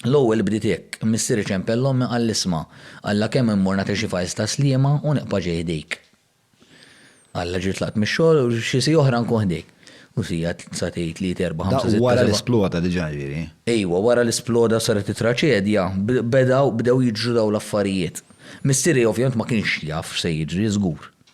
L-ewwel bdiet hekk, Missier iċempel l-ommi qal l-isma', alla kemm immur nagħti xi fajls ta' sliema u niqpa' ġej ħdejk. Alla ġiet tlaqt mix-xogħol u xi siegħa oħra nkun ħdejk. U siegħa, sa tgħid, tlieta, erbgħa, ħamsa, sitta, seba'. Dak wara li sploda diġà jiġifieri? Ejwa, wara li sploda u saret it-traċedja, beda, bdew jiġru dawn l-affarijiet. Missieri ovvjament ma kienx jaf x'se jiġri, żgur.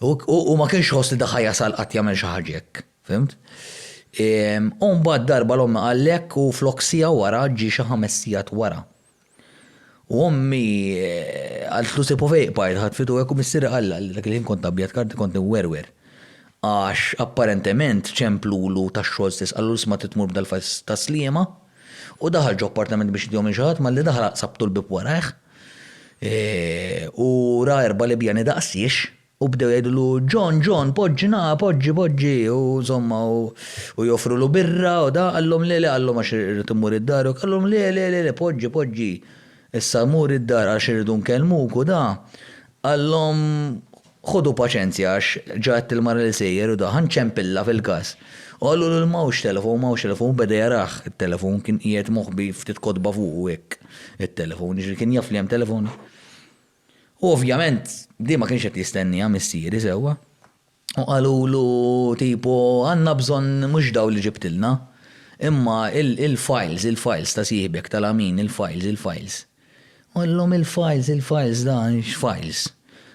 U ma kienx ħoss li daħħa jasal qatt jagħmel xi ħaġa hekk, fhimt? U mbagħad darba l-ommi qalek u flok siegħa wara ġie xi ħames sigħat wara. U ommi qaltlu se povej qbajt ħadd fitu hekk u missieri qalla li dak il-ħin kont abjad karti kont inwerwer. Għax apparentement ċemplulu tax-xogħol stess qalu l-isma trid tmur b'dal-fajs tas-sliema. U daħal ġo appartament biex idihom lil xi ħadd, malli daħal aqsabtu l-bieb warajh, u ra erba' Libjani daqsiex, u bdew jgħidulu, John, John, poġġina, poġġi, poġġi, u insomma, u joffrulu birra u da, qallhom le, le, qallhom għax irrid immur id-dar, u qallhom le, le, le, le, poġġi, poġġi, issa mur id-dar għax irridu nkellmuk u da, qallhom, Ħodu paċenzja għax ġa għedt il-mara li sejjer u daħan ċempillha fil-gass. U qalulu li m'hawnx telefon, m'hawnx telefon u beda jarah it-telefon, kien qiegħed moħbi ftit kotba fuqu hekk it-telefon, jiġifieri kien jaf li hemm telefon. U ovvjament di ma kienx qed jistennieha missieri sewwa. U qalulu tipo għandna bżonn mhux dawn li ġibtilna, imma il-files, il-files ta' sieħbek, ta' Lamin, il-files, il-files. Għallhom il-files, il-files da, x'files?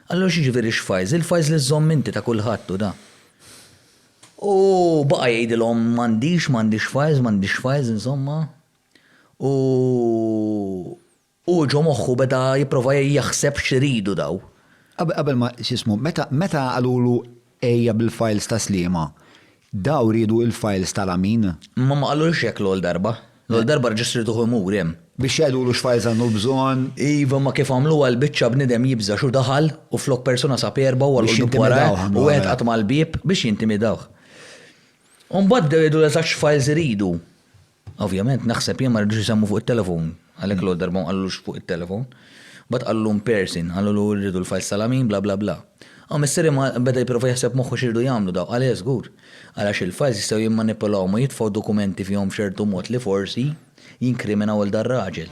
Qallu x'jiġifieri x'files? Il-files li żżomm inti ta' kulħadd u da. U baqa' jgħidilhom m'għandix, m'għandix files, m'għandix files insomma. U hu ġo moħħu beda jipprova jaħseb x'iridu daw. Qabel ma, x'ismu, meta qalulu Ejja bil-files ta' Sliema. Daw riedu il-files tal-Amin. Imma ma qalulux hekk l-ewwel darba. L-ewwel darba rġistrituh imur hemm. Biex jgħidulu x'files għandu bżonn. Iva imma kif għamluha l-biċċa bniedem jibża' x'hu daħal u flok persuna sab erbgħa u għalqu d-dub wara u wieħed qatma' l-bieb biex jintimidawh. U mbagħad bdew jgħidulu eżatt x'files iridu. Ovvjament naħseb jien ma ridux isemmu fuq it-telefon, għalhekk l-ewwel darba ma qalulux fuq it-telefon. Mbagħad qalulu in person, qalulu rridu l-files tal-għamil bla bla bla. Hawn missieri ma beda jipprova jaħseb b'moħħu x'iridu jagħmlu dawn, qal le żgur. Qal għax il-files jistgħu jimmanipulawhom u jitfgħu dokumenti fihom b'ċertu mod li forsi jinkriminaw lil dar-raġel.